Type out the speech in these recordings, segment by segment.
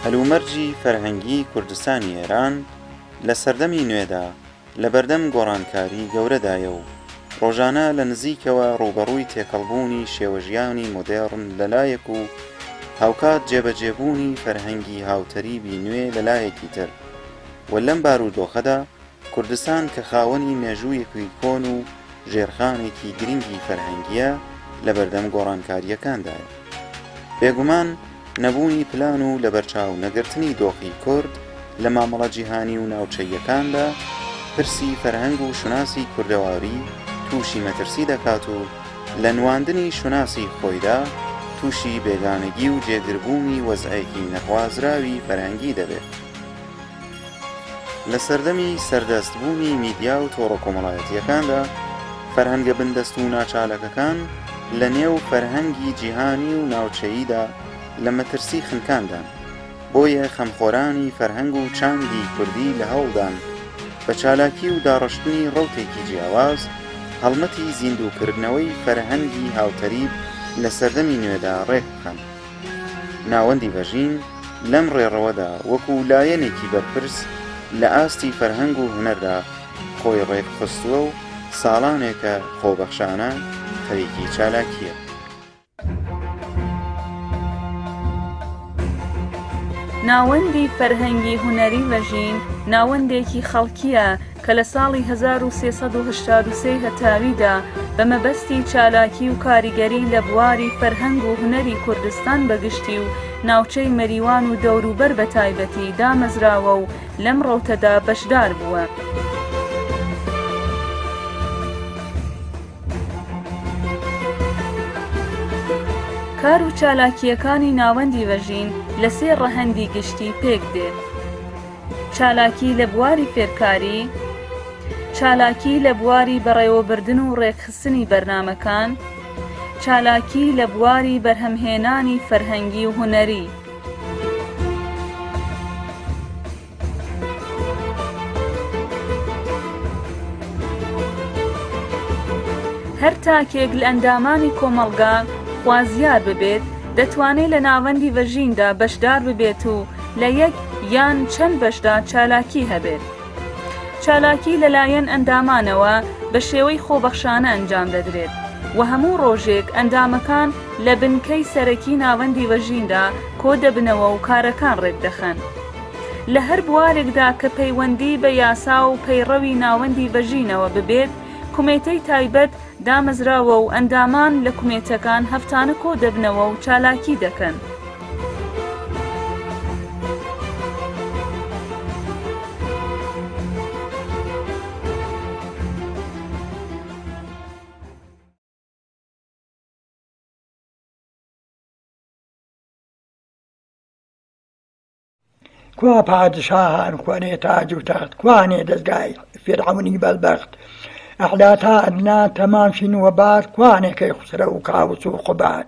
هەلومەرجی فەرهەنگیی کوردستانی ئێران لە سەردەمی نوێدا لە بەردەم گۆڕانکاریی گەورەدایە و ڕۆژانە لە نزیکەوە ڕووبەڕووی تێکەڵبوونی شێوەژیانی مۆدێڕن لە لایەک و هاوکات جێبەجێبوونی فەرهەنگی هاوتەریبی نوێ لە لایەکی تر و لەم بارودۆخەدا کوردستان کە خاوەنی مێژوویەکی کۆن و ژێرخانێکی گرنگی فەرهەنگییە لە بەردەم گۆڕانکارییەکاندایە. بێگومان نەبوونی پلان و لەبەرچاو نەگرتنی دۆخی کورد لە مامەڵە جیهانی و ناوچەییەکاندا، پرسی فەرهەنگ و شوناسی کوردەواری تووشی مەترسی دەکات و لە نواندنی شوناسی خۆیدا تووشی بێگانەگی و جێگربوونی وەزعێکی نەخوازراوی فەرهەنگی دەبێت. لە سەردەمی سەردەست بوونی میدیا و تۆڕە کۆمەڵایەتییەکاندا، فەرهەنگە بندەست و ناچاالکەکان لە نێو فەرهەنگی جیهانی و ناوچەییدا لە مەترسی خنکاندان، بۆیە خەمخۆرانی فەرهەنگ و چاندی کوردی لە هەوڵدان بە چالاکی و داڕشتنی ڕەوتێکی جیاواز، هەڵمەتی زیندووکردنەوەی فەرهەنگی هاوتەریب لە سەردەمی نوێدا ڕێک بخەن. ناوەندی ڤەژین لەم ڕێڕەوەدا وەکو لایەنێکی بەرپرس لە ئاستی فەرهەنگ و هونەردا خۆی ڕێکخستووە و ساڵانێکە خۆبەخشانە خەریکی چالاکییە. ناوەندی فەرهەنگی هونەری ڤەژین ناوەندێکی خەڵکییە، کە لە ساڵی هەزار و سێ سەد و هەشتاد و سێ لە تاویدا بە مەبەستی چالاکی و کاریگەری لە بواری فەرهەنگ و هونەری کوردستان بە گشتی و ناوچەی مەریوان و دەوروبەر بە تایبەتی دامەزراوە و لەم ڕەوتەدا بەشدار بووە. کار و چالاکییەکانی ناوەندی ڤەژین لە سێ ڕەهەندی گشتی پێک دێ. چالاکی لە بواری فێرکاری، چالاکی لە بواری بەڕێوەبردن و ڕێکخستنی بەرنامەکان، چالاکی لە بواری بەرهەمهێنانی فەرهەنگی و هونەری. هەر تاکێک لە ئەندامانی کۆمەڵگا خوازیار ببێت دەتوانێت لە ناوەندی ڤەژیندا بەشدار ببێت و لە یەک یان چەند بەشدا چالاکی هەبێت. چالاکی لەلایەن ئەندامانەوە بە شێوەی خۆبەخشانە ئەنجام دەدرێت و هەموو ڕۆژێک ئەندامەکان لە بنکەی سەرەکی ناوەندی ڤەژیندا کۆدەبنەوە و کارەکان ڕێکدەخەن لە هەر بوارێکدا کە پەیوەندی بە یاسا و پەیڕەوی ناوەندی ڤەژینەوە ببێت کومێتەی تایبەت دامەزراوە و ئەندامان لە کومێتەکان هەفتانە کۆ دەبنەوە و چالاکی دەکەن. کوا پادشاهان کوانێ تاج و تەخت کوانێ دەستگای فیرعەونی بەلبەخت ئەعلا تا ئەدنا تەمام شین و بار کوانێ کەی خوسرە و کاوس و قوباد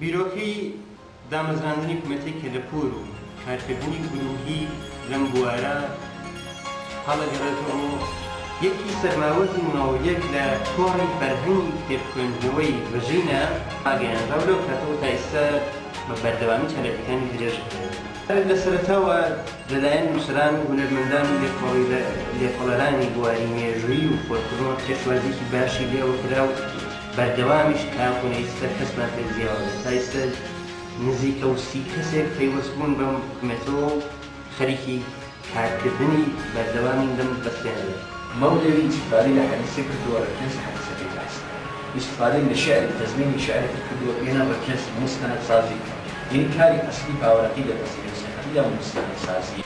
بیرۆکەی دامەزراندنی کومێتەی کەلەپوور و کارکردنی گرووهی لەم بوارە هەڵەگەڕێتەوە. یەکی سەرماوەت و نۆیەک لە کۆڕی فەرهەنگی کتێب خوێندنەوەی ڤژینا ڕاگەیانراو لەو کاتەوە تا ئیستا بە بەردەوامی چالاکیەکانی درێژ دەدرێت. هەر لە سەرەتاوە لەلایەن نووسەران و هونەرمەندان و لێکۆڵەرانی بواری مێژوویی و فۆلکلۆر پێشوازیی باشی لێوە کرا و بەردەوامیش تاکوو ئێستا کەسمان پێ زیاوە بێت. تا ئێستا نزیکە و سی کەسێک پەیوەست بوون بەم حکومەتەوە و خەریکی کارکردنی بەردەوامین لەم بەستێنەدا. مەولەوی ئیستیفادەی لە حەدیسە کردووە، ڕێکخەریی حەدیسەکەی باسکرد. ئیستیفادەی لە شیعری تەزمینی شیعرەکەی کردووە، بێنە ڕێکخەری موستەنەدسازی بکەن. یەی کاری ئەسڵی باوەرەکەی دەپەسێرێ سیحری یان موسیقا سازیە.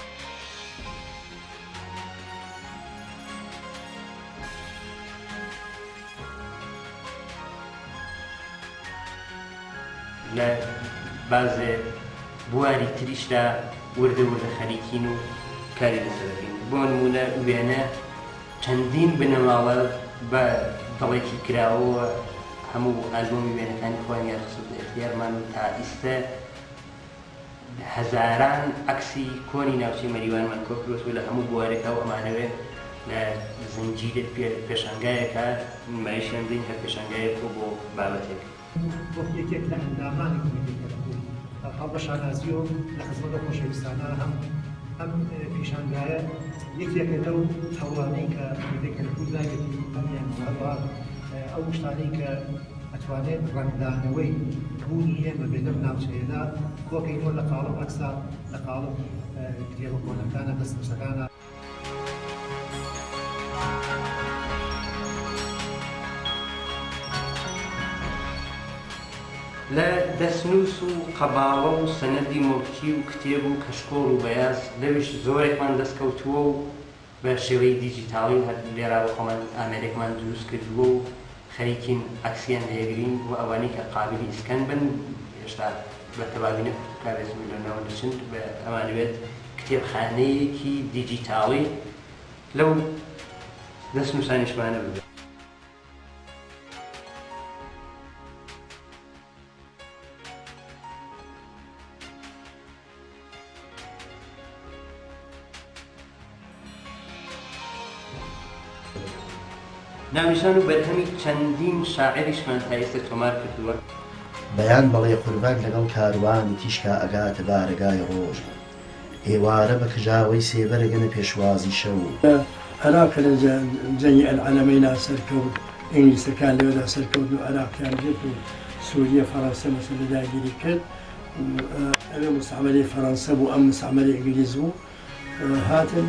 لە بازێ بواری تریشدا وردە وردە خەریکین و کاری لەسەر دەکەین بۆ نموونە وێنە. چەندین بنەماڵە بە دڵێکی کراوەوە هەموو ئالبۆمی وێنەکانی خۆیان یان خستۆتە ئێختیارمان و تا ئیستە هەزاران عەکسی کۆنی ناوچەی مەریوانمان کۆکروتوە لە هەموو بوارێکا و ئەمانەوێت لە زنجیرە پێشانگایەکە نمایشیان بدەین هەر پێشانگایەک و بۆ بابەتێک. وەک یەکێک لە ئەندامانی کۆمیتەی کەلەپوور هەڵ بە شانازی و لە خزمەت ئەو خۆشەویستانە هەم ئەم پیشانگایە یەکێکە لەو هەوڵانەی کە کۆمیتەی کەلەپوور داوێتی ئەمیان و هەروەها ئەو شتانەی کە ئەتوانێت ڕەنگدانەوەی بوونی ئێمە بێت لەم ناوچەیەدا کۆکەینەوە لە قاڵب ئەکسا لە قاڵب کتێبە کۆنەکانە دەستنووسەکانە. لە دەستنووس و قەباڵە و سەنەدی موڵکی و کتێب و کەشکۆڵ و بەیاز لەویش زۆرێکمان دەست کەوتووە و بە شێوەی دیجیتاڵی هەر لێرا بە خۆمان ئامێرێکمان دروست کردووە و خەریکین عەکسیان لێگرین و ئەوانەی کە قابیلی ئیسکان بن هێشتا بە تەواوی نەفروشراوێت و لەناو نەچن ئەمانەوێت کتێبخانەیەکی دیجیتاڵی لەو دەستنووسانیشمانە ببێت. ناونیشان و بەرهەمی چەندین شاعیریشمان تا ئیستە تۆمار کردووە. بەیان بەڵێ قوربەک لەگەڵ کاروانی تیشکا ئەگاتە بارەگای ڕۆژ و ئێوارە بە کجاوەی سێبەر ئەگەنە پێشوازی شەو و. عێراق کە لە جەنگی ئەلعەلەمەینا سەرکەوت، ئینگلیسەکان لەوێدا سەرکەوتن و عێراقیان گرت و سووریە فەڕەنسە مەسەر لە داگیری کرد. ئەوێ موستەعمەری فەرەنسە بوو، ئەم موستەعمەری ئینگلیز بوو، هاتن.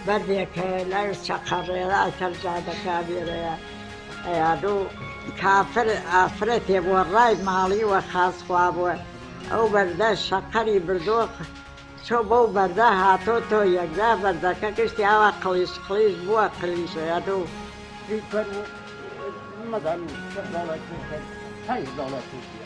بەردێ کە لای چەقە ڕێرا سەر جادەکە ئەبیرەیە ئەیا دوو کافر ئافرەتێ بۆ ڕای ماڵی وە خاس خوا بووە ئەو بەردە شەقەری بردۆ چۆ بەو بەردە هاتۆ تۆ یەکجا بەردەکە گشتی ئاوا قڵیش قڵیش بووە قلیش ئەیا دوو مەدام شەش دۆڵار پێ بکەن پەنج دۆڵار پێ بدە.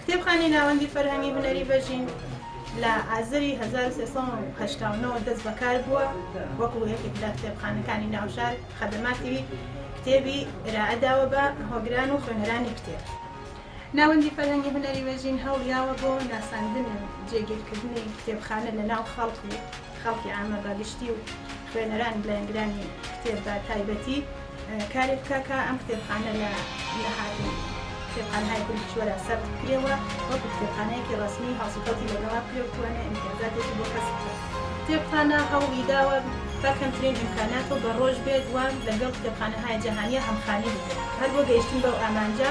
کتێبخانەی ناوەندی فەرهەنگی هونەری بەژین لە ئازری هەزار و سێ سەد و هەشتا و نۆ دەست بەکار بووە وەکوو یەکێک لە کتێبخانەکانی ناو شار خەدەماتی کتێبی ئێرائە داوە بە هۆگران و خوێنەرانی کتێب. ناوەندی فەرهەنگی هونەری بەژین هەوڵیاوە بۆ ناساندن و جێگیرکردنی کتێبخانە لە ناو خەڵک و، خەڵکی عامە بە گشتی و خوێنەران و لایەنگرانی کتێب بە تایبەتی کارێک بکا کە ئەم کتێبخانە لە نەهاتوو کتێبخانەهای کوردی کیشوەرا سەرد بکرێ و وەکو کتێبخانەیەکی ڕەسمی هەڵسوکەوتی لەگەڵا بکرێ و بتوانێ ئیمتیازاتێکی بۆ کەسب بکا. کتێبخانە هەوڵی داوە بە کەمترین ئیمکانات و بە ڕۆژ بێت و لەگەڵ کتێبخانەهای جەهانییە هەمخانی بکرێ هەر بۆ گەیشتن بەو ئامانجە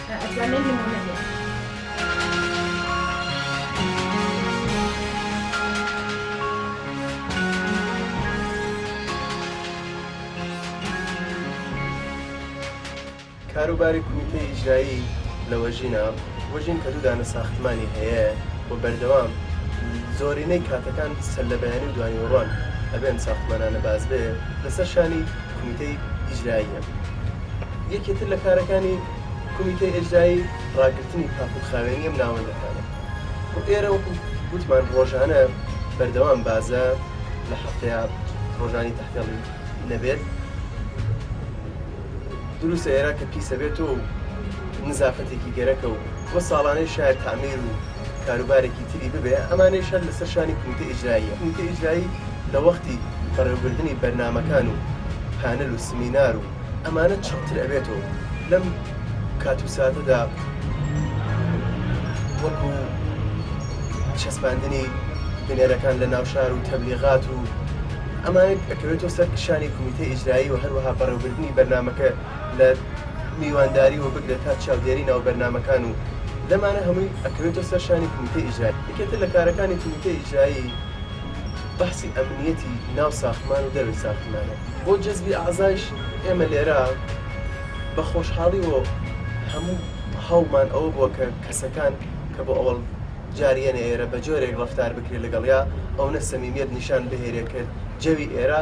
کاروباری کومیتەی ئیجرایی لە وەژینە وەژین کە دوو دانە ساختمانی هەیە و بەردەوام زۆرینەی کاتەکان سەر لە بەیانی و دوانیوەڕۆان ئەبێن ساختمانانە باز بێ لەسەر شانی کومیتەی ئیجراییە. یەکێ تر لە کارەکانی کومیتەی ئێجرایی ڕاگرتنی پاک و خاوێنی ئەم ناوەندەکانە و ئێرە وەکو گوتمان ڕۆژانە بەردەوام بازە لە هەفتەیە ڕۆژانی تەحتێڵی نەبێت دروستە ئێرە کە پیسە بێت و نزافەتێکی گەرەکە و بۆ ساڵانەی شایە تعمیر و کاروبارێکی تری ببێ، ئەمانەیش هەر لەسەر شانی کومیتە ئیجراییە، کومیتە ئیجرایی لە وەختی بەڕێوەبردنی بەرنامەکان و پانل و سمینار و ئەمانە چڕتر ئەبێتەوە و لەم کات و ساتەدا وەکو چەسپاندنی بنەرەکان لە ناو شار و تەبلیغات و ئەمانە ئەکەوێتەوە سەر شانی کومیتە ئیجرایی و هەروەها بەڕێوەبردنی بەرنامەکە لە میوانداری وە بگرە تا چاودێری ناو بەرنامەکان و لەمانە هەمووی ئەکەوێتە سەر شانی کومیتەی ئیجرایی یەکێتر لە کارەکانی کومیتەی ئیجرایی بەحسی ئەمنیەتی ناو ساختمان و دەرەوەی ساختمانە. بۆ جەزبی ئەعزایش ئێمە لێرە بە خۆشحاڵی وە هەموو هەوڵمان ئەوە بووە کە کەسەکان کە بۆ ئەوەڵ جار یەنە ئێرە بە جۆرێک ڕەفتار بکرێ لەگەڵیا ئەونە سەمیمیەت نیشان بهێرێ کە جەوی ئێرە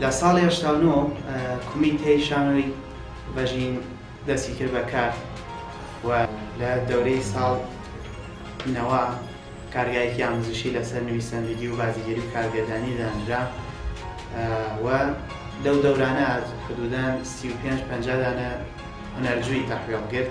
لە ساڵی هەشتا و نۆ کومیتەی شانۆی بەژین دەستی کرد بە کار و لە دەورەی ساڵ نەوە کارگایەکی ئاموزشی لەسەر نویسەندگی و بازیگەری و کارگەردانی دانرا و لەو دەورانە حدودەن سی و پێنج پەنجا دانە هونەرجووی تەحوێڵ کرد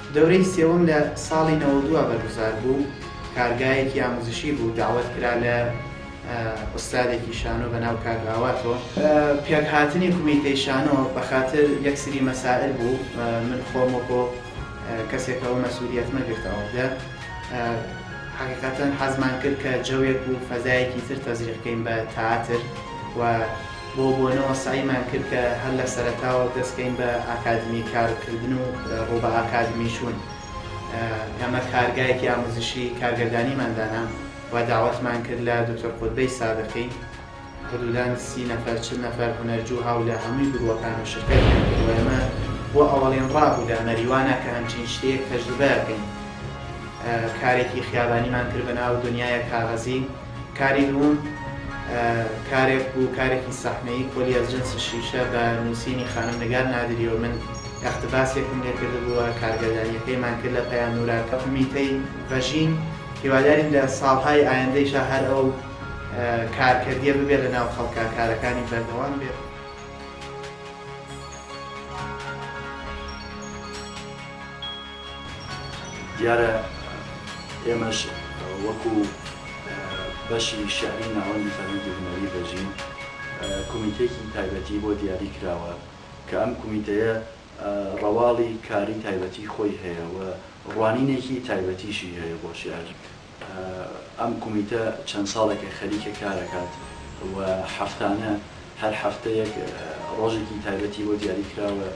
دەورەی سێوەم لە ساڵی نەوەد و بەرگوزار بوو، کارگایەکی ئاموزشی بوو، دەعوەت کرا لە ئوستادێکی شانۆ بە ناو کاک ئاواتۆ، پێک هاتنی کومیتەی شانۆ بە خاتر یەک سری مەسائل بوو من خۆم وەکۆ کەسێک ئەوە مەسولیەتمە گرتەوە دە حەقیقەتەن حەزمان کرد کە جەوێک و فەزایەکی تر تەزریق کەین بە تەئاتر و بۆ بۆنەوە سەعیمان کرد کە هەر لە سەرەتاوە دەست کەین بە ئاکادمی کار کردن و ڕوو بە ئاکادمی چوون. ئێمە کارگایەکی ئاموزشی کارگەردانیمان دانا و داوەتمان کرد لە دوکتور قوتبەی سادقی. حدودا سی نەفەر چل نەفەر هونەرجو هاو لە هەمووی گروەکان و شرکەتیان کرد و ئێمە بۆ ئەوەڵین ڕا بوو لە مەریوانا کە هەمچین شتێیەک تەجروبە کەین. کارێکی خیابانیمان کرد بە ناو دونیایە کاغەزی. کاری دووم کارێک بوو، کارێکی سەحنەیی، کۆلی از جنس شیشە، بە نووسینی خانم نگار نادری و من ئێقتباسێکم لێ کردبووە، کارگەردانییەکەیمان کرد لە پەیام نورا کە ئومیتەی ڤەژین، هیوادارین لە ساڵهای ئایندەیشا هەر ئەو کارکەرییە ببێت لە ناو خەڵکا، کارەکانی بەردەوام بێت. دیارە ئێمەش وەکو بەشی شیعری ناوەندی فەرهەنگی هونەری ڤەژین کومیتەیەکی تایبەتی بۆ دیاری کراوە کە ئەم کومیتەیە ڕەواڵی کاری تایبەتی خۆی هەیە و ڕوانینێکی تایبەتیشی هەیە بۆ شیعر ئەم کومیتە چەند ساڵێکە خەریکە کارەکات و هەفتانە هەر هەفتەیەک ڕۆژێکی تایبەتی بۆ دیاری کراوە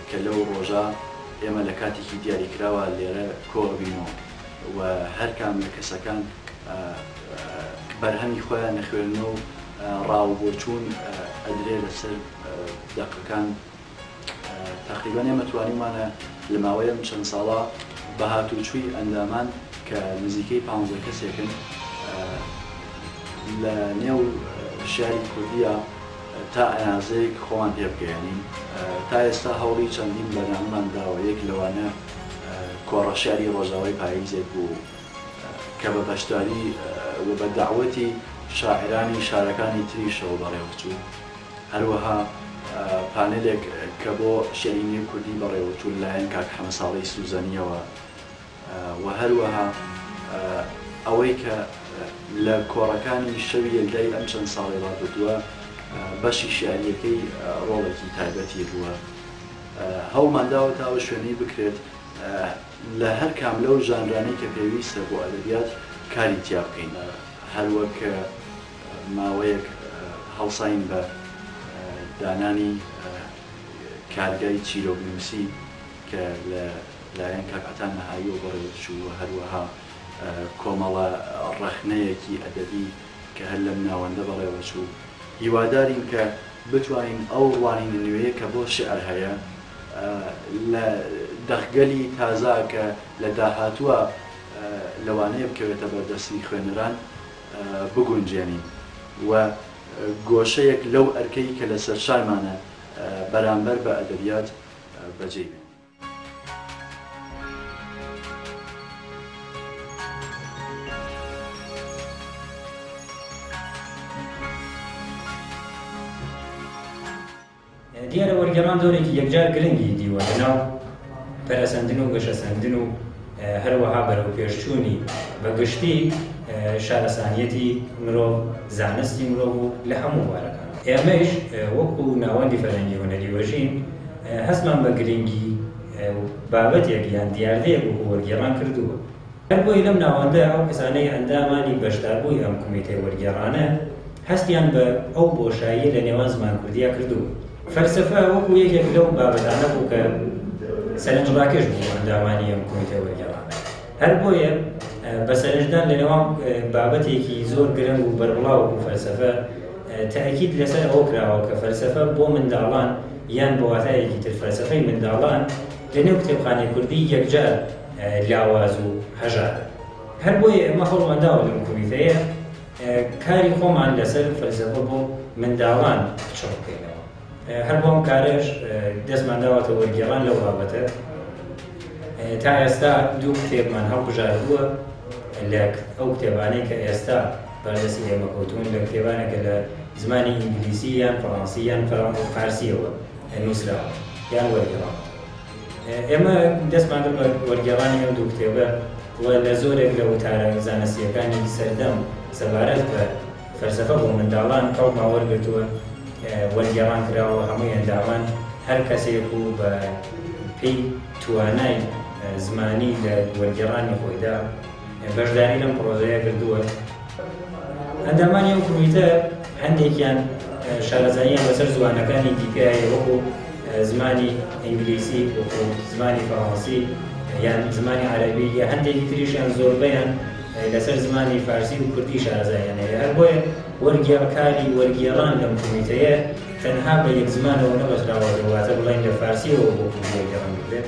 کە لەو ڕۆژە ئێمە لە کاتێکی دیاری کراوە لێرە کۆ ئەبینەوە و هەر کام لە کەسەکان بەرهەمی خۆیان ئەخوێننەوە و ڕاوبۆچوون ئەدرێ لەسەر دەقەکان تەقریبەن ئێمە توانیومانە لە ماوەی ئەم چەند ساڵە بە هاتووچووی ئەندامان کە نزیکەی پانزە کەسێکن لە نێو شاری کوردیا تا ئەنازەیەک خۆمان پێ بگەیەنین تا ئێستا هەوڵی چەندین بەرنامەمان داوە یەک لەوانە کۆڕە شاری ڕۆژاوای پاییزێک بوو کە بە بەشداری و بە داوەتی شاعرانی شارەکانی تریشەوە بەڕێوەچوو هەروەها پانێلێک کە بۆ شیعری نوێی کوردی بەڕێوەچوو لە لایەن کاک حەمە ساڵەی سوزەنییەوە و هەروەها ئەوەی کە لە کۆڕەکانی شەوی یەلدای ئەم چەند ساڵەی ڕابردووە بەشی شیعرییەکەی ڕۆڵێکی تایبەتی بووە هەوڵمان داوە تا ئەو شوێنەی بکرێت لە هەر کام لەو ژانرانەی کە پێویستە بۆ ئەدەبیات کاری تیا بکەین هەروەک ماوەیەک هەڵساین بە دانانی کارگای چیرۆکنووسی کە لە لایەن کاک عەتا نەهاییەوە بەڕێوەدەچوو و هەروەها کۆمەڵە ڕەخنەیەکی ئەدەبی کە هەر لەم ناوەندە بەڕێوەچوو. هیوادارین کە بتوانین ئەو ڕوانینە نوێیە کە بۆ شیعر هەیە لە دەقگەلی تازە کە لە داهاتووە لەوانەیە بکەوێتە بەردەستی خوێنەران، بگونجێنین و گۆشەیەک لەو ئەرکەی کە لەسەرشانمانە بەرامبەر بە ئەدەبیات بەجێی بێنین. دیارە وەرگێڕان دۆرێکی یەکجار گرنگی دیوە لەناو پەرەسەندن و گەشەسەندن و هەروەها بەرەوپێشچوونی بە گشتی شارەسانیەتی مرۆڤ، زانستی مرۆڤ و لە هەموو بوارەکان. ئێمەیش وەکو ناوەندی فەرهەنگی هونەری وەژین هەستمان بە گرنگی بابەتێک یان دیاردەیەک وەکو وەرگێڕان کردووە. هەر بۆیە لەم ناوەندە ئەو کەسانەی ئەندامانی بەشداربووی ئەم کومیتەی وەرگێڕانەن هەستیان بە ئەو بۆشاییە لە نێوان زمان کوردیا کردووە. فەلسەفە وەکوو یەکێک لەو بابەتانە بوو کە سەرنجڕاکێش بوو بۆ ئەندامانی ئەم کومیتەی وەرگێڕانە. هەر بۆیە بە سەرنجدان لە نێوان بابەتێکی زۆر گرنگ و بەربڵاو وەکوو فەلسەفە تەئکید لە سەر ئەوە کراوە کە فەلسەفە بۆ منداڵان یان بە واتایەکی تر فەلسەفەی منداڵان لە نێو کتێبخانەی کوردی یەکجار لاواز و هەژارە. هەر بۆیە ئێمە هەوڵمان داوە لەم کۆمیتەیە کاری خۆمان لەسەر فەلسەفە بۆ منداڵان چڕ بکەینەوە. هەر بۆ ئەم کارەش دەستمان داوەتە وەرگێڕان لەو بابەتە. تا ئێستا دوو کتێبمان هەڵبژاردووە لە ئەو کتێبانەی کە ئێستا بەردەستی ئێمە کەوتوون، لە کتێبانە کە لە زمانی ئینگلیسی یان فەڕانسی یان فارسییەوە نووسراوە یان وەرگێڕاوە. ئێمە دەستمان کرد بە وەرگێڕانی ئەم دوو کتێبە و لە زۆرێک لە وتارە زانستییەکانی سەردەم سەبارەت بە فەلسەفە بۆ منداڵان هەوڵمان وەرگرتووە، وەرگێڕان کراوە، هەمووی ئەندامان هەر کەسێک و بە پێی توانای زمانی لە وەرگێڕانی خۆیدا، بەشداری لەم پڕۆژەیە کردووە ئەندامانی ئەو کمیتە هەندێکیان شارەزاییان بەسەر زوانەکانی دیکە وەکو زمانی ئینگلیسی وەکو زمانی فەڕەنسی یان زمانی عەربی یا هەندێکی تریشیان زۆربیان لەسەر زمانی فارسی و کوردی شارەزاییان هەیە هەر بۆیە وەرگێڕکاری وەرگێڕان لەم کمیتەیە تەنها بە یەک زمانەوە نەبەستراوە واتە بڵێن لە فارسیەوە بۆ کوردی وەرگێڕان بکرێت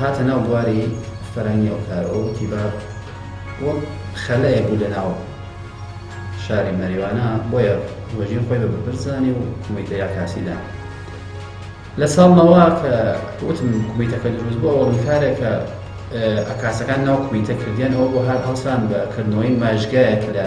هاتە ناو بواری فەرهەنگی ئەو کارە و وتی باب وەک خەلەیەک بوو لە ناو شاری مەریوانە بۆیە وەژین خۆی بە بەبر زانی و کومیتە یا کاسی دان لە ساڵ نەوە کە وتم کومیتەکە دروست بوو ئەوڵ کارێک کە ئەکاسەکان ناو کومیتە کردیان ئەوە بۆ هەر هەڵسان بە کردنەوەی ماژگایەک لە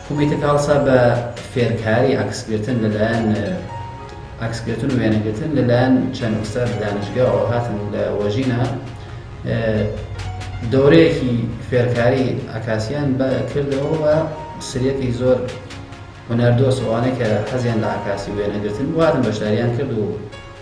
کومیتە کاڵسا بە فێرکاری عەکس گرتن لەلایەن عەکس گرتن و وێنە گرتن لەلایەن چەند ئوستاد دانشگاوە هاتن لە وەژینا دەورەیەکی فێرکاری عەکاسیان بە کردەوە و سریەکی زۆر هونەردۆس ئەوانەی کە حەزیان لە عەکاسی وێنە گرتن واتن بەشداریان کرد و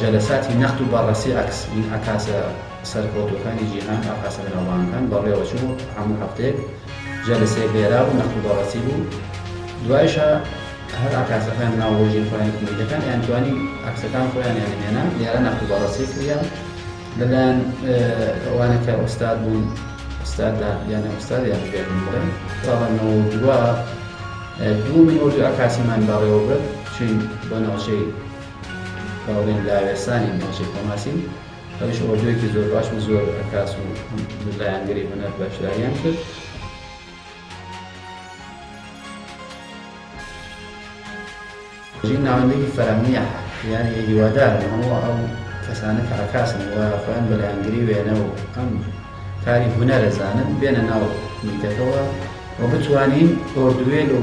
جەلەساتی نەقد و بەڕەسی عەکس ی عەکاسە سەرکەوتووەکانی جیهان، عەکاسە بەناوبانگەکان بەڕێوەچوو، هەموو هەفتەیەک جەلەسەیەک لێرا بوو، نەقد و بەڕەسی بوو، دوایشا هەر عەکاسەکان ناو ڕۆژی خۆیانی کومیتەکان یان توانی عەکسەکان خۆیانیانی هێنا لێرا نەقد و بەڕەسی کریا لەلایەن ئەوانە کە ئوستاد بوون ئوستاددا یان ئوستاد یان بێ من بڵێم ساڵە نەوە و دووە دوو من وردو عەکاسیمان بەڕێوە برد چوین بۆ ناوچەی هاوڕیم لاوێسانی ناوچەی خۆناسین ئەویش ئۆردوێکی زۆر باش و زۆر عەکاس و لایەنگری هونەر بەشداریان کرد. ژین ناوەندێکی فەراهەمیە یان هیوادارم هەموو ئەو کەسانە کە عەکاسن و خۆیان بە لایەنگری وێنە و ئەم کاری هونەرە زانن بێنە ناو میتەکەوە و بتوانین ئۆردوێل و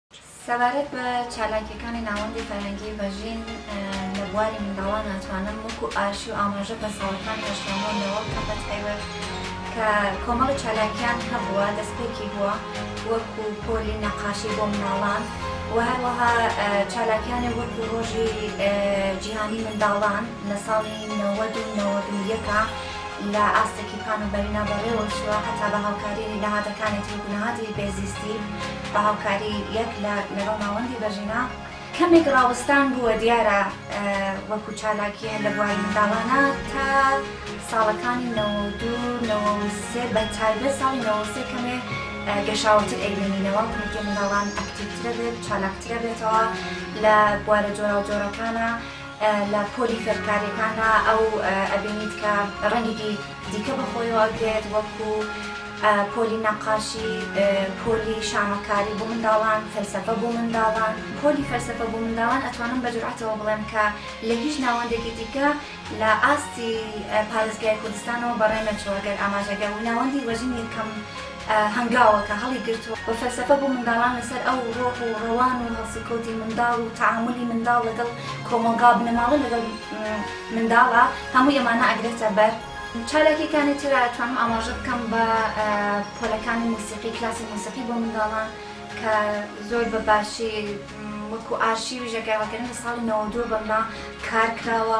سەبارەت بە چالاکییەکانی ناوەندی فەرهەنگی ڤەژین لە بواری منداڵان ئەتوانم وەکو ئاشی و ئاماژە بە ساڵەکانی هەشتانەوە و نەوە بکەم بە تایبەت کە کۆمەڵی چالاکییان هەبووە دەستپێکی بووە وەکو پۆلی نەقاشی بۆ منداڵان و هەروەها چالاکیانێ وەکو ڕۆژی جیهانی منداڵان لە ساڵی نەوەد و نەوەد و یەکا لە ئاستێکی پان و بەرینا بەڕێوە چووە هەتا بە هاوکاری نەهادەکانی تر وەکو نەهادی بێزیستی بە هاوکاری یەک لە لەگەڵ ناوەندی بەژینا کەمێک ڕاوەستان بووە دیارە وەکو چالاکی هەر لە بواری منداڵانە تا ساڵەکانی نەوە و دوو نەوە و سێ بە تایبەت ساڵی نەوە و سێ کەمێ گەشاوەتر ئەیبینینەوە کۆمیتەی منداڵان ئەکتیڤترە بێت چالاکترە بێتەوە لە بوارە جۆراوجۆرەکانە لە پۆلی فێرکاریەکاندا ئەو ئەبینیت کە ڕەنگێکی دیکە بەخۆیەوە ئەگرێت وەکو پۆلی نەقاشی، پۆلی شانۆکاری بۆ منداڵان، فەلسەفە بۆ منداڵان. پۆلی فەلسەفە بۆ منداڵان ئەتوانم بە جورئەتەوە بڵێم کە لە هیچ ناوەندێکی دیکە لە ئاستی پارێزگای کوردستانەوە بەڕێ نەچووە گەر ئاماژەگە و ناوەندی وەژنی یەکەم هەنگاوەکە هەڵیگرتووە و فەلسەفە بۆ منداڵان لەسەر ئەو ڕۆح و ڕەوان و هەڵسوکەوتی منداڵ و تەعامولی منداڵ لەگەڵ کۆمەڵگا و بنەماڵە لەگەڵ منداڵە، هەموو ئەمانە ئەگرێتە بەر. چالاکییەکانی تر ئەتوانم ئاماژە بکەم بە پۆلەکانی موسیقی، کلاسی موسیقی بۆ منداڵان کە زۆر بە باشی وەکوو ئارشیوی ژێکاوەکردن لە ساڵی نەوەد و دوو بەملا کار کراوە.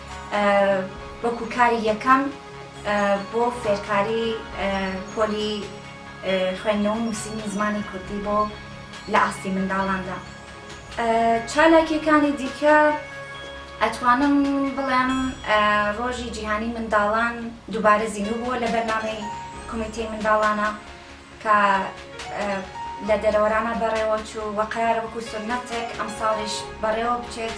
وەکو کاری یەکەم بۆ فێرکاری پۆلی خوێندنەوە و نووسینی زمانی کوردی بۆ لە ئاستی منداڵاندا چالاکیەکانی دیکە ئەتوانم بڵێم ڕۆژی جیهانی منداڵان دووبارە زیینو بووە لە بەرنامەی کمیتی منداڵانە کە لە دەرەوەرانە بەڕێوەچوو وەقارە وەکو سنەتێک ئەم ساڵیش بەڕێوە بچێت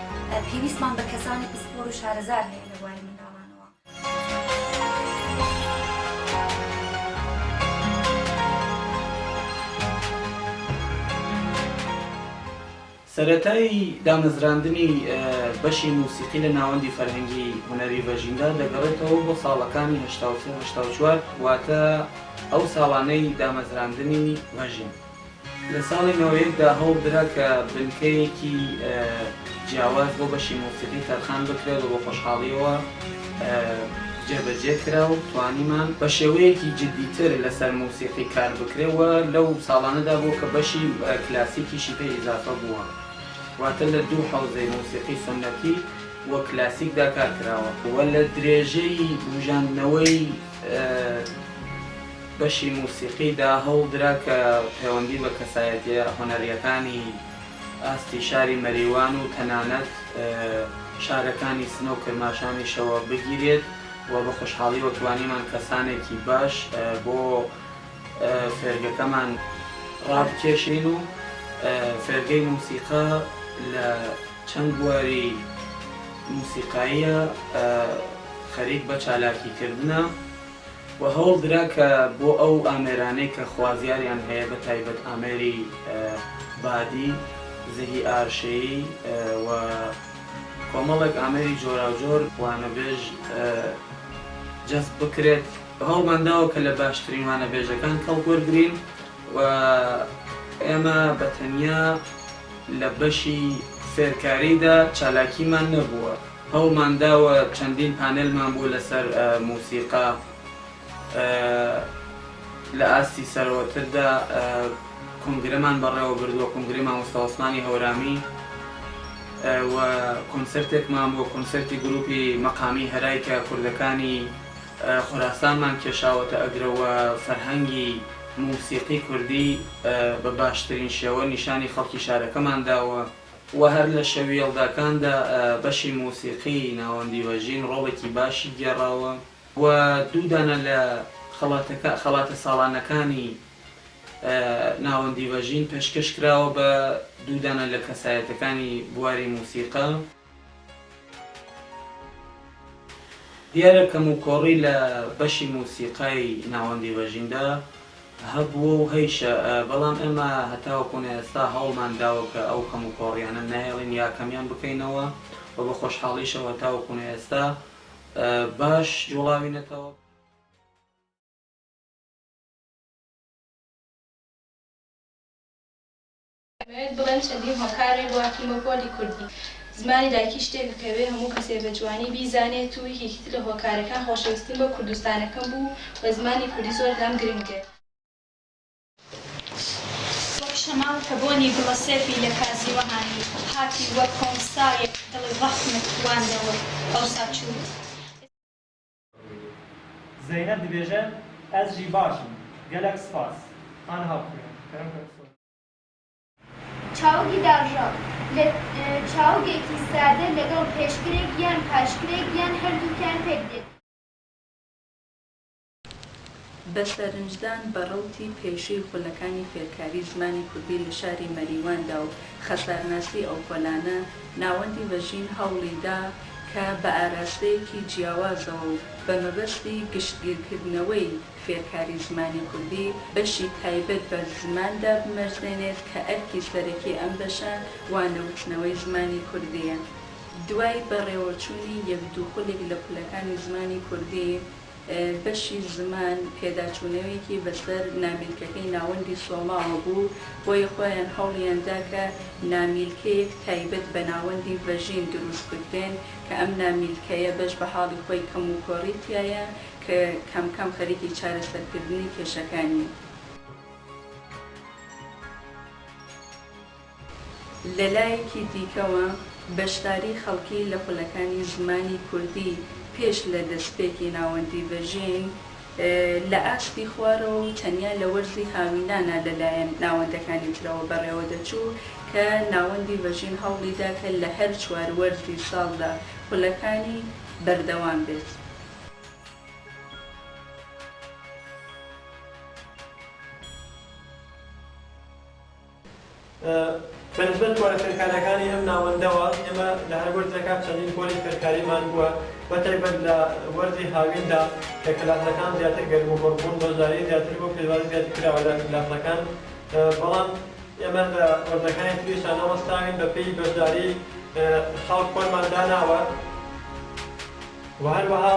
پێویستمان بە کەسانی پسپۆر و شارەزار هەیە لە بواری منداڵانەوە. سەرەتای دامەزراندنی بەشی موسیقی لە ناوەندی فەرهەنگی هونەری ڤەژیندا دەگەڕێتەوە بۆ ساڵەکانی هەشتا و سێ هەشتا و چوار واتە ئەو ساڵانەی دامەزراندنی ڤەژین، لە ساڵی نۆ یەک دا هەوڵدرا کە بنکەیەکی جیاواز بۆ بەشی مۆسیقی تەرخان بکرێت و بە خۆشحاڵییەوە جێبەجێ کرا و توانیمان بە شێوەیەکی جددیتر لەسەر مۆسیقی کار بکرێت و لەو ساڵانەدا بووە کە بەشی کلاسیکیشی پێ ئیزافە بووە، واتە لە دوو حەوزەی مۆسیقی سوننەتی و کلاسیکدا کار کراوە و لە درێژەی بووژاندنەوەی. بەشی موسیقیدا هەوڵدرا کە پەیوەندی بە کەسایەتییە هونەرییەکانی ئاستی شاری مەریوان و تەنانەت شارەکانی سنە و کرماشانیشەوە بگیرێت و بە خۆشحاڵییەوە توانیمان کەسانێکی باش بۆ فێرگەکەمان ڕابکێشین و فێرگەی موسیقا لە چەند بواری موسیقاییە خەریک بە چالاکیکردنە. و هەوڵ درا کە بۆ ئەو ئامێرانەی کە خوازیاریان هەیە بە تایبەت ئامێری بادی، زەهی ئارشەیی و کۆمەڵێک ئامێری جۆراوجۆر وانەبێژ جەزب بکرێت. هەوڵمان داوە کە لە باشترین وانەبێژەکان کەڵک وەرگرین و ئێمە بە تەنیا لە بەشی فێرکاریدا چالاکیمان نەبووە. هەوڵمانداوە چەندین پانێلمان بوو لەسەر موسیقا لە ئاستی سەرەوەتردا کۆنگرەمان بەڕێوەبردووە کۆنگرەی مامۆستا عوسمانی هەورامی و کۆنسرتێکمان بۆ کۆنسرتی گروپی مەقامی هەرای کە کوردەکانی خوراسانمان کێشاوەتە ئەگرەوە فەرهەنگی موسیقی کوردی بە باشترین شێوە نیشانی خەڵکی شارەکەمان داوە. و هەر لە شەویەڵداکاندا بەشی مۆسیقی ناوەندی ڤەژین ڕۆڵێکی باشی گێڕاوە و دوو دانە لە خەڵاتەکە خەڵاتە ساڵانەکانی ناوەندی ڤەژین پێشکەش کراوە بە دوو دانە لە کەسایەتەکانی بواری مۆسیقا. دیارە کەموکۆڕی لە بەشی موسیقای ناوەندی ڕێژیمدا هەبووە و هەیشە، بەڵام ئێمە هەتاوەکو ئێستا هەوڵمان داوە کە ئەو کەموکۆڕییانە نەهێڵین یا کەمیان بکەینەوە و بە خۆشحاڵیشەوە هەتاوەکو ئێستا باش جووڵاوینەتەوە. دەمەوێت بڵێم چەندین هۆکار ی بۆ هاتوومە پۆلی کوردی زمانی دایکی شتێکە کە ئەبێ هەموو کەسێ بە جوانی بیزانێت و یەکێکی تر لە هۆکارەکان خۆشەویستیم بۆ کوردستانەکەم بوو و زمانی کوردی زۆر لام گرنگ بێ. وەک شەماڵ کە بۆنی گوڵە سێفی لە کازی وەهانی هاتی وەک کۆمسایەک دڵی ڕەخنەت واندەوە ئەوسا چوویت. زەینەب دبێژە ئەز ژی باشم گەلەک سپاس. هانە هاوخوێن. چاوگی داڕژاو، لە چاوگێکی سادە لەگەڵ پێشکرێک یان پاشکرێک یان هەردووکیان پێک دێت. بە سەرنجدان بە ڕەوتی پێشووی خولەکانی فێرکاریی زمانی کوردی لە شاری مەریواندا و خەسارناسیی ئەو پۆلانە، ناوەندی بەژین هەوڵی دا کە بە ئاراستەیەکی جیاوازەوە و بە مەبەستی گشتگیرکردنەوەی، فێرکاری زمانی کوردی بەشی تایبەت بە زمان دابمەرزێنێت کە ئەرکی سەرەکی ئەم بەشە وانەوتنەوەی زمانی کوردییە. دوای بەڕێوەچوونی یەک دوو خولێک لە خولەکانی زمانی کوردی، بەشی زمان پێداچوونەوێکی بەسەر نامیلکەکەی ناوەندی سۆماوە بوو، بۆیە خۆیان هەوڵیان دا کە نامیلکەیەک تایبەت بە ناوەندی ڤەژین دروست بکرێن کە ئەم نامیلکەیە بەش بە حاڵی خۆی کەموکۆڕی تیایە، کە کەم کەم خەریکی چارەسەرکردنی کێشەکانین. لەلایەکی دیکەوە، بەشداری خەڵکی لە خولەکانی زمانی کوردی پێش لە دەستپێکی ناوەندی ڤەژین لە ئاستی خوارەوە و تەنیا لە وەرزی هاوینانە لەلایەن ناوەندەکانی ترەوە بەڕێوەدەچوو کە ناوەندی ڤەژین هەوڵیدا کە لە هەر چوار وەرزی ساڵدا خولەکانی بەردەوام بێت. بەنسبەت پۆلە فێرکارییەکانی ئەم ناوەندەوە، ئێمە لە هەر وەرزێکا چەندین پۆلی فێرکاریمان بووە، بە تایبەت لە وەرزی هاویندا کە کلاسەکان زیاتر گەرموگوڕ بوون، بەشداریی زیاتر بوو، پێشوازی زیاتر کراوە لە کلاسەکان، بەڵام ئێمە لە وەرزەکانی تریشا نەوەستاوین، بەپێی بەشداریی خەڵک پۆلمان داناوە. و هەروەها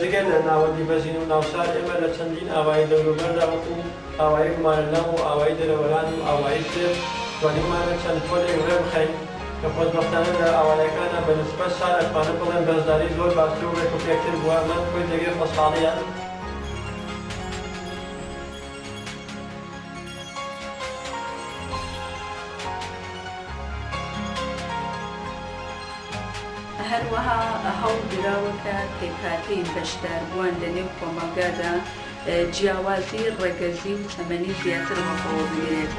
جگە لە ناوەندی بەژین و ناوشار ئێمە لە چەندین ئاوایی دەوروبەردا وەکو ئاوایی گومارە لام و ئاوایی دەرەوەران و ئاوایی سێر توانیومانە چەند پۆلێک ڕێ بخەین کە خۆشبەختانە لە ئاوایەکانە بە نسبەت شار ئەتوانم بڵێم بەشداری زۆر باشتر و ڕێکوپێکتر بووە ئەمە کۆی جێگەی خۆشحاڵییە. هەروەها هەوڵدراوە کە پێکهاتەی بەشداربووان لە نێو کۆمەڵگادا جیاوازی ڕەگەزی و تەمەنی زیاتر بەخۆوە بگرێت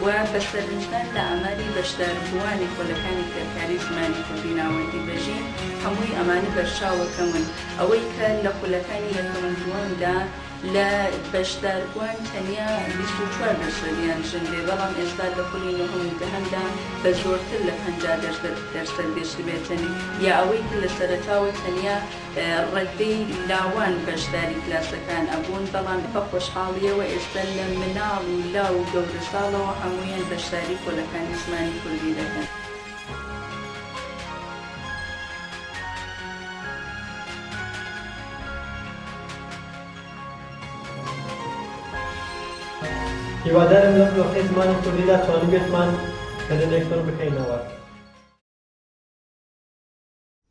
و بە سەرنجدان لە ئاماری بەشداربووانی خولەکانی فێرکاری زمانی کوردی ناوەندی بەژین هەمووی ئەمانە بەرچاوە کەمن ئەوەی کە لە خولەکانی یەکەم و دووەمدا لە بەشداربووان تەنیا بیست و چوار بەشەر یان ژن بێ، بەڵام ئێستا لە خولی نۆهەم و دەهەمدا بە زۆرتر لە پەنجا دەرسەد گەشتبێتن، یا ئەوەی کە لە سەرەتاوە تەنیا ڕەددەی لاوان بەشداری کلاسەکان ئەبوون، بەڵام بە خۆشحاڵییەوە ئێستا لە مناڵ و لاو و گەورەساڵەوە هەموویان بەشداری پۆلەکانی زمانی کوردی دەکەن. هیوادارم لەم دۆخەی زمانی کوردیدا توانیبێتمان بەدەمێک پڕ بکەینەوە.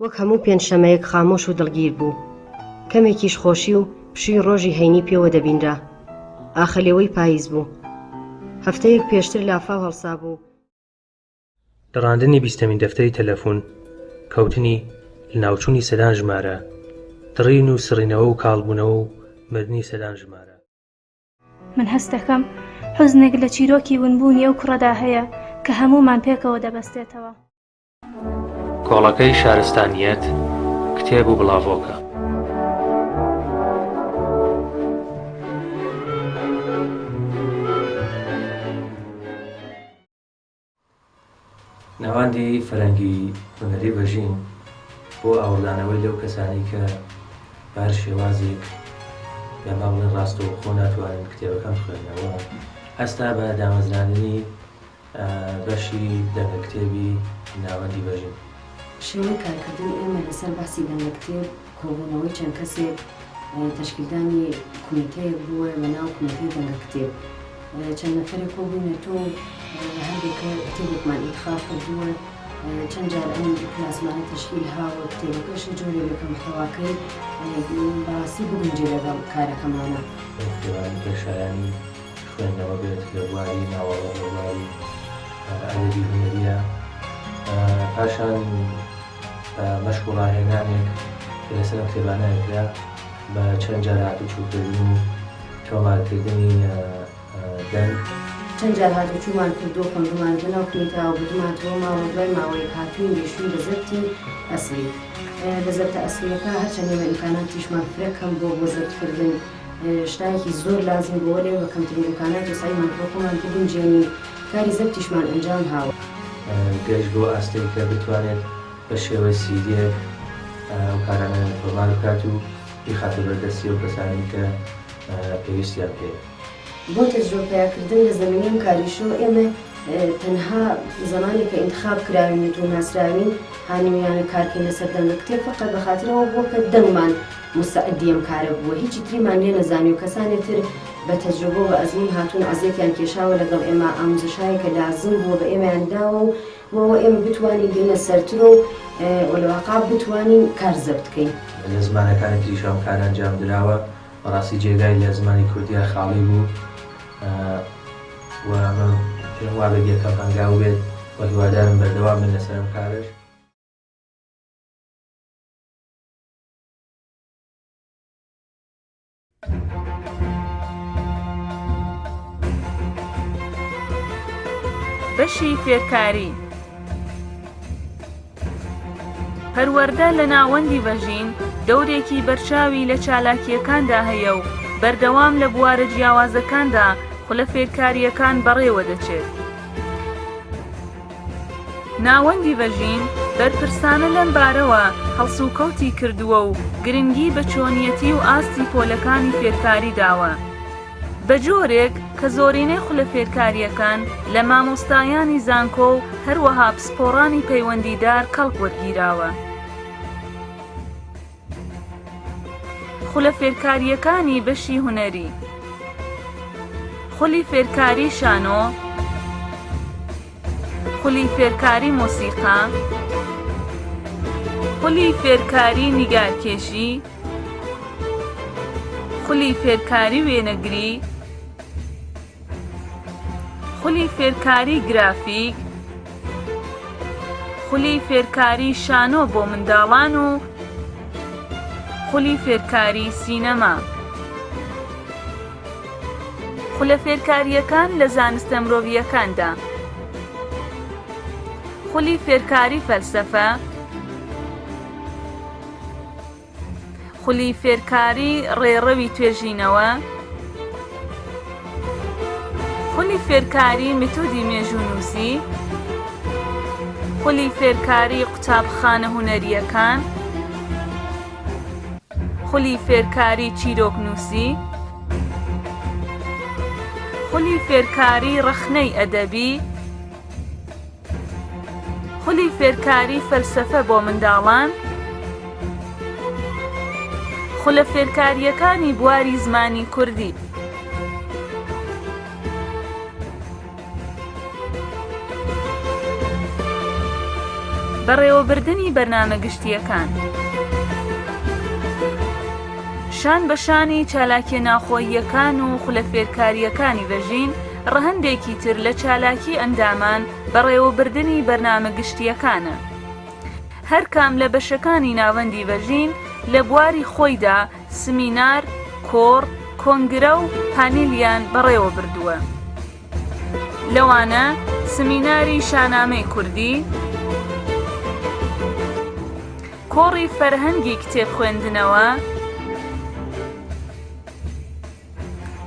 وەک هەموو پێنجشەمەیەک خامۆش و دڵگیر بوو. کەمێکیش خۆشی و پشووی ڕۆژی هەینی پێوە دەبینرا. ئاخەلێوەی پاییز بوو. هەفتەیەک پێشتر لافاو هەڵسابوو. دڕاندنی بیستەمین دەفتەری تەلەفون کەوتنی لەناوچوونی سەدان ژمارە دڕین و سڕینەوە و کاڵبوونەوە و مردنی سەدان ژمارە من هەست دەکەم حزنێک لە چیرۆکی ونبوونی ئەو کوڕەدا هەیە کە هەموومان پێکەوە دەبەستێتەوە. کۆڵەکەی شارستانیەت کتێب و بڵاڤۆکە. ناوەندی فەرەنگی هونەری بەژین بۆ ئاوڕدانەوەی لەو کەسانەی کە بە هەر شێوازێک یا با بڵێن ڕاستەوخۆ ناتوانن کتێبەکەم بخوێنەوە هەستا بە دامەزراندنی بەشی دەنگە کتێبی ناوەندی بەژین. شێوەی کارکردنی ئێمە لەسەر بەحسی دەنگە کتێب، کۆبوونەوەی چەند کەسێک تەشکیلدانی کومیتەیەک بووە بە ناو کومیتەی دەنگە کتێب چەند نەفەرێک کۆبووینە تۆ و لە هەندێک کە کتێبێکمان ئینتخاب کردووە چەند جار ئەم کلاسمانە تەشکیل هاوە کتێبەکەش جۆرێک لە کە محتەواکەی بەڕاستی بگونجێ لەگەڵ کارەکەمانە. ئەو کتێبانەی کە شایانی خوێندنەوە بێت لە بواری ناوەڕۆک لە بواری ئەدەبی هونەرییە پاشان. مەشق و ڕاهێنانێک کە لەسەر ئەم کتێبانە ئەکرا بە چەند جار هاتوچووکردن و تۆمارکردنی دەنگ. چەند جار هاتوچوومان کردووە، خوێندوومان، دەناو پرینتاوە بردوومانتەوە ماڵەوە، دوای ماوەیەک هاتووین گەیشتووین بە زەبتی ئەسڵی. لە زەبتە ئەسڵییەکە هەرچەند ئێمە ئیمکاناتیشمان فرە کەم بووە بۆ زەبتکردن، شتایەکی زۆر لازم بووە لێ بە کەمترین امکانات و سەعیمان کرد خۆمان بگونجێنین و کاری زەبتیشمان ئەنجام هاوە. گەشت بۆ ئاستێک کە بتوانێت بە شێوەی سیدێک ئەو کارانە تۆمار بکات و بیخاتە بەر دەستی ئەو کەسانەی کە پێویستیان پێیە. بۆ تەجربە پەیا کردن لە زەمینەی ئەم کاریشەوە ئێمە تەنها زەمانێک کە ئینتخاب کراوین و تۆ ناسراوین هانیویانە کارکەین لە سەر دەنگە کتێب فەقەت بە خاتر ئەوە بووە کە دەنگمان مستعدی ئەم کارە بووە هیچی تریمان لێ نەزانی و کەسانی تر بە تەجربەو بە ئەزموون هاتوون عەزێتیان کێشاوە لەگەڵ ئێمە ئاموزە شارێکە لازم بووە بە ئێمەیان داوە و بۆ ئەوە ئێمە بتوانین بێینە سەرترۆ و ولەواقع بتوانین کار زەبت کەین. لە زمانەکانی تریشا ئەم کارە ئەنجام دراوە بەڕاستی جێگای لە زمانی کوردیا خاڵی بوو و ئەمە پێم وابێت یەکەم هەنگاو بێت و هیوادارم بەردەوام بن لەسەر ئەم کارەش. بەشی فێرکاری پەروەردە لە ناوەندی بەژین دەورێکی بەرچاوی لە چالاکیەکاندا هەیە و بەردەوام لە بوارە جیاوازەکاندا خولە فێرکارییەکان بەڕێوە دەچێت. ناوەندی بەژین بەرپرسانە لەم بارەوە هەڵسوکەوتی کردووە و گرنگی بە چۆنیەتی و ئاستی پۆلەکانی فێرکاری داوە بە جۆرێک کە زۆرینەی خولە فێرکارییەکان لە مامۆستایانی زانکۆ و هەروەها پسپۆڕانی پەیوەندیدار کەڵک وەرگیراوە. خولە فێرکارییەکانی بەشی هونەری خولی فێرکاری شانۆ خولی فێرکاری مۆسیقا خولی فێرکاری نیگارکێشی خولی فێرکاری وێنەگری خولی فێرکاری گرافیک خولی فێرکاری شانۆ بۆ منداڵان و خولی فێرکاری سینەما خولە فێرکارییەکان لە زانستە مرۆڤییەکاندا خولی فێرکاری فەلسەفە خولی فێرکاری ڕێڕەوی توێژینەوە خولی فێرکاری میتودی مێژوونووسی خولی فێرکاری قوتابخانە هونەریەکان خولی فێرکاری چیرۆکنووسی خولی فێرکاری ڕەخنەی ئەدەبی خولی فێرکاری فەلسەفە بۆ منداڵان خولە فێرکارییەکانی بواری زمانی کوردی بەڕێوەبردنی بەرنامە گشتییەکان شان بە شانی چالاکیە ناوخۆییەکان و خولە فێرکارییەکانی بەژین ڕەهەندێکی تر لە چالاکی ئەندامان بەڕێوەبردنی بەرنامە گشتییەکانە. هەرکام لە بەشەکانی ناوەندی ڤەژین لە بواری خۆیدا سمینار، کۆڕ، کۆنگرە و پانیلیان بەڕێوەبردووە. لەوانە سمیناری شانامەی کوردی، کۆڕی فەرهەنگی کتێب خوێندنەوە،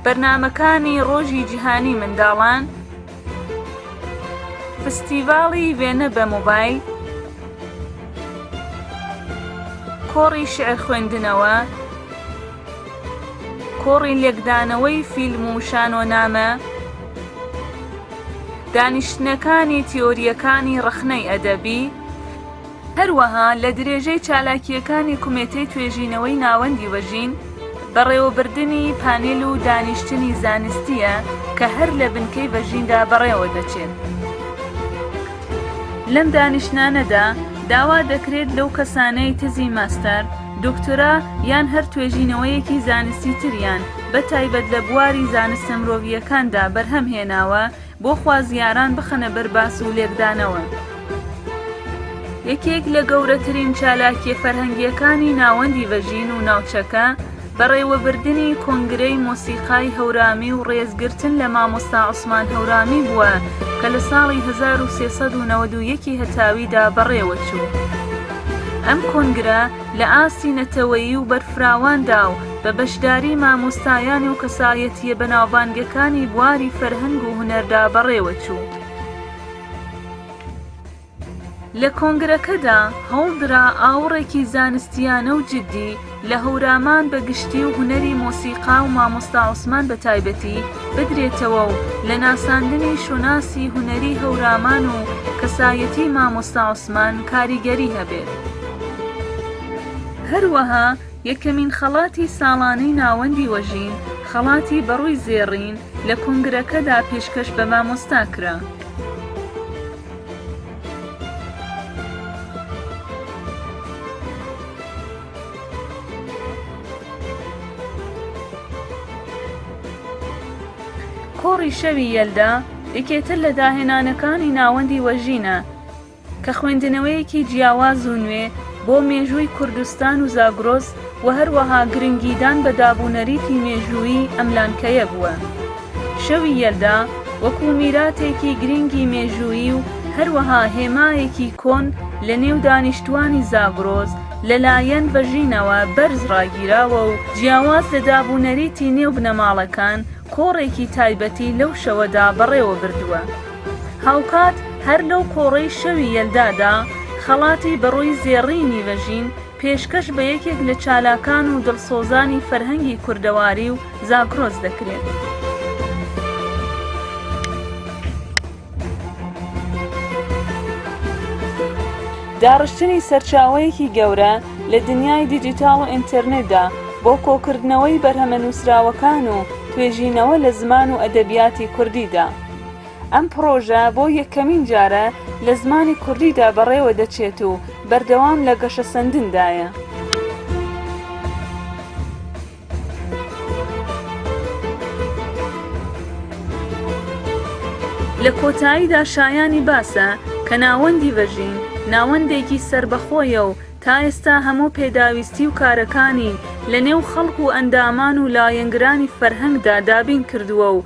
بەرنامەکانی ڕۆژی جیهانی منداڵان فستیڤاڵی وێنە بە مۆبایل کۆڕی شعر خوێندنەوە کۆڕی لێکدانەوەی فیلم و شانۆنامە دانیشتنەکانی تیۆریەکانی ڕەخنەی ئەدەبی هەروەها لە درێژەی چالاکییەکانی کومێتەی توێژینەوەی ناوەندی وەژین، بەڕێوەبردنی پانێل و دانیشتنی زانستییە کە هەر لە بنکەی ڤەژیندا بەڕێوە دەچێت. لەم دانیشتنانەدا داوا دەکرێت لەو کەسانەی تزی ماستەر، دۆکتۆرا یان هەر توێژینەوەیەکی زانستی تریان بە تایبەت لە بواری زانستە مرۆڤییەکاندا بەرهەم هێناوە، بۆ خوازیاران بخەنە بەر باس و لێکدانەوە. یەکێک لە گەورەترین چالاکیە فەرهەنگیەکانی ناوەندی ڤەژین و ناوچەکە، بەڕێوەبردنی کۆنگرەی مۆسیقای هەورامی و ڕێزگرتن لە مامۆستا عوسمان هەورامی بووە کە لە ساڵی 1391 ی هەتاویدا بەڕێوەچوو. ئەم کۆنگرە لە ئاستی نەتەوەیی و بەرفراواندا و، بە بەشداری مامۆستایان و کەسایەتییە بەناوبانگەکانی بواری فەرهەنگ و هونەردا بەڕێوە چوو. لە کۆنگرەکەدا هەوڵدرا ئاوڕێکی زانستییانە و جددی لە هەورامان بە گشتی و هونەری مۆسیقا و مامۆستا عوسمان بە تایبەتی بدرێتەوە و لە ناساندنی شوناسی هونەری هەورامان و کەسایەتی مامۆستا عوسمان کاریگەری هەبێت. هەروەها یەکەمین خەڵاتی ساڵانەی ناوەندی وەژین، خەڵاتی بەڕووی زێڕین، لە کونگرەکەدا پێشکەش بە مامۆستا کرا. کۆڕی شەوی یەلدا، یەکێتر لە داهێنانەکانی ناوەندی وەژینە، کە خوێندنەوەیەکی جیاواز و نوێ بۆ مێژووی کوردستان و زاگرۆس و هەروەها گرنگیدان بە دابونەریتی مێژوویی ئەم لانکەیە بووە. شەوی یەلدا وەکوو میراتێکی گرنگی مێژوویی و هەروەها هێمایەکی کۆن لە نێو دانیشتووانی زاگرۆس لە لایەن بەژینەوە بەرز ڕاگیراوە و جیاواز لە دابونەریتی نێو بنەماڵەکان کۆڕێکی تایبەتی لەو شەوەدا بەڕێوە بردووە. هاوکات هەر لەو کۆڕەی شەوی یەلدادا، خەڵاتی بەڕووی زێڕی نیڤژین پێشکەش بە یەکێک لە چالاکان و دڵسۆزانی فەرهەنگی کوردەواری و زاگرۆس دەکرێت. داڕشتنی سەرچاوەیەکی گەورە لە دنیای دیجیتاڵ و ئینتەرنێتدا بۆ کۆکردنەوەی بەرهەمە نووسراوەکان و توێژینەوە لە زمان و ئەدەبیاتی کوردیدا، ئەم پڕۆژە بۆ یەکەمین جارە لە زمانی کوردیدا بەڕێوە دەچێت و بەردەوام لە گەشەسەندندایە. لە کۆتاییدا شایانی باسە کە ناوەندی ڤەژین ناوەندێکی سەربەخۆیە و تا ئێستا هەموو پێداویستی و کارەکانی لە نێو خەڵک و ئەندامان و لایەنگرانی فەرهەنگدا دابین کردووە و